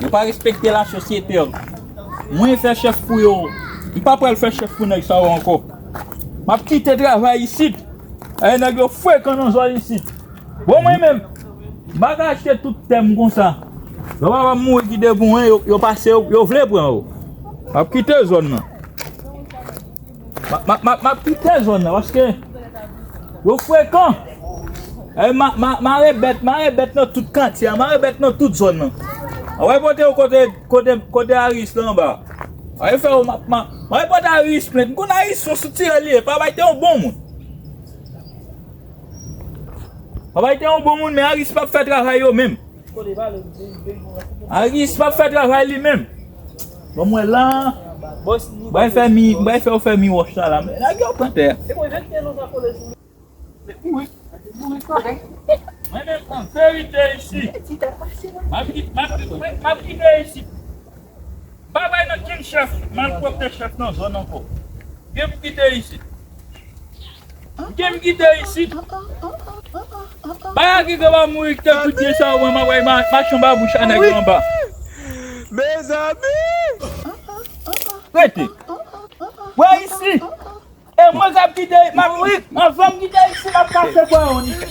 Yo pa respekte la sosyete yo. Mwen fè chèf pou yo. M pa pral fè chèf pou nèg sa yo ankò. M ap kite travay isit. Ayè nèg yo frekan nan zòn isit. Bon mwen menm, m pa ka achte tout tè m konsa. Lè papa m mouri ki de pou mwen, yo pase yo, yo vle pran yo. M ap kite zòn nan. Map kite zòn nan paske yo frekan Mare bèt mare bèt nan tout katye a mare bèt nan tout zòn nan Mwen pral pote yo kote Aris la anba Mwen pral pote Aris plent M konn Aris son sitirèl li ye Papa l te yon bon moun Papa l te yon bon moun men Aris pap fè travay yo menm Aris pap fè travay li menm Bon mwen la Bay fè mi bay fè ou fè mi wòch la la men nèg yo pran tè Mwen menm an verite isi Map rive isi M pa bay nan king chèf malpwopte chèf nan zòn ankò Gen pou kite isi. Kite m kite isit. Baya kite wap mouri kite kout pye sa wè map wè machan babouch a nèg yo anba. Rete wè isi e mwen kap kite map mouri anvan m kite isi map kase bwa ou nèg.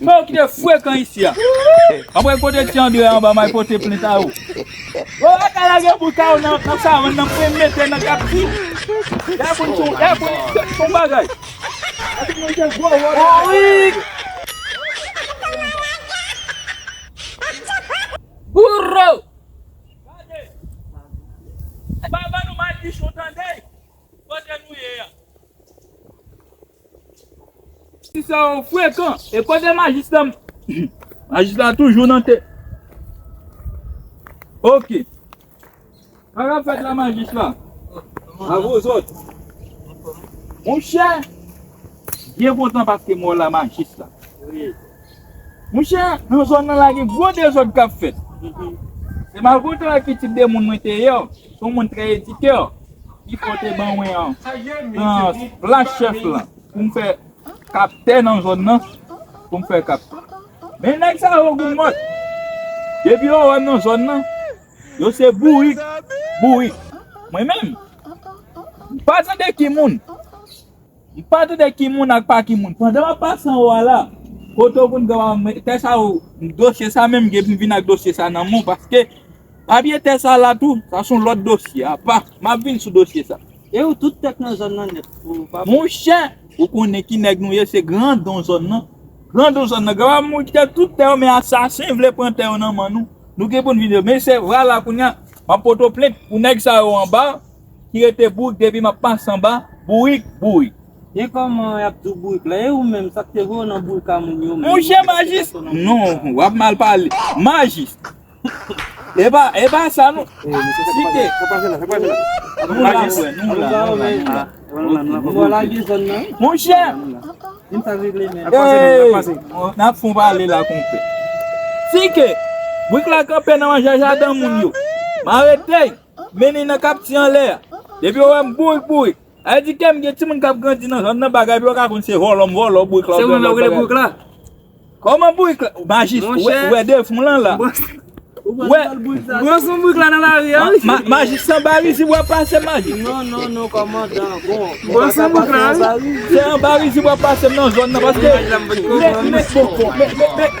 Bon ki te frekan isi a. Anmwey kote ti andre a anba may pote plent a ou. Bon lakay la gen boul karo nan savann nan mwen mete nan kapti. Y'a konn son y'a konn son bagay. Borik. Bouro. Gade. Pa ban nou madichon tande. Kote nou ye a. Ti sè ou frekan e kote majis la majis la toujou nan te ok sa kap fèt la majis la avozòt monchè byen kontan paske mwen la majis la. Monchè, nan zòn nan la gen gwo dezòd k ap fèt. Se malgre ki tip de moun mwen te ye, se yon moun trè edike, ki fè yo te ban mwen nan plas chèf la pou m fè kaptè nan zòn nan. Pou m fè kaptè. Men nèg sa yo gou mòt. Depi yo wè m nan zòn nan, yo se bourik, bourik. Mwen menm, m pa tande ki moun M pa tande ki moun ak pa ki moun. Pandan map pase anwo a la. Kote ou konn gen wap met tè sa ou dosye sa menm gen pou vin ak dosye sa nan menw paske papye tè sa la tou sa son lòt dosye apa map vin sou dosye sa. E ou tout tèt nan zòn nan nèt ou pa pè. Monchè ou konnen ki nèg nou ye se grandon zòn nan. Grandon zòn nan granpa moun ki gen tout tèyo men asasen vle pran tèyo nan man nou nou gen poun vin yo men se vwa la kounya map poto plent pou nèg sa yo anba. ki rete bourik depi map pase anba bourik bourik. Gen koman yap diw bourik la e ou menm sak te voye w nan bourik a moun yo menm. Monchè majis non wap mal pale majis epa epa sa non sike nou la frè nou la nou la nou la ok bon lage zòn nan wi monchè eeyy nap fon pale la konpè sike bourik la kanpe nan manjè jaden moun yo m aretey. Mennen nan kapti anlè a. Depi yo wè m bourik bourik. A yo di kèm gen timoun kap grandi nan zòn nan bagay epi yo ka konn se vòlò m vòlò ou bourik la ou byen lòt bagay. Se ou menm la ou rele bourik la? Kòman bourik la? Majis ou wè defon lan la. Ou wè gwo son bourik la nan lari a wi. Majis se anba rizib wap pase m majis? Non non non kòmandan bon. Gwo son bourik la wi. Se anba rizib wap pase m nan zòn nan paske. Mèt mèt bon bon mèt mèt mèt.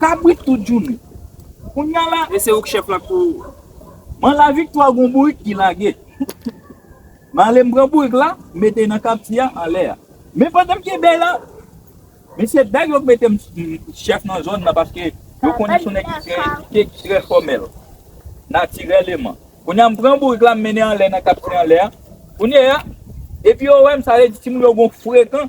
Kabrit tout jounen. Kounya la e se ouk chef la kou. M'en la viktwa gon bourik ki lage. M'ale m'pran bourik la mete nan kapti a anlè a. Men pandan m'ke bèy la. Men se bèy yo k metem chef nan zòn nan paske yo konnen son nèg ki trè edike ki trè fòmèl. Natirèleman. Kounya m'pran bourik la m'mennen anlè nan kapti anlè a. Kounye a epi yo wèm sa vle di timoun yo gon frekan.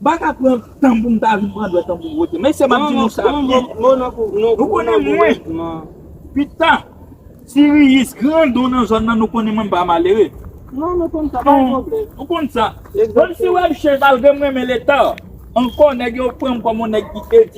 Mpa ka pran tanm poum ta vin pran dwèt an poum wote mesye map di nou sa byen nou konnen mwen pita siriyis gran don nan zòn nan nou konnen mwen mpa malere non nou konn sa pa gen pwoblèm nou konn sa menm si wèm chèn malgrem renmen leta ankò nèg yo pranm kòm yon nèg ki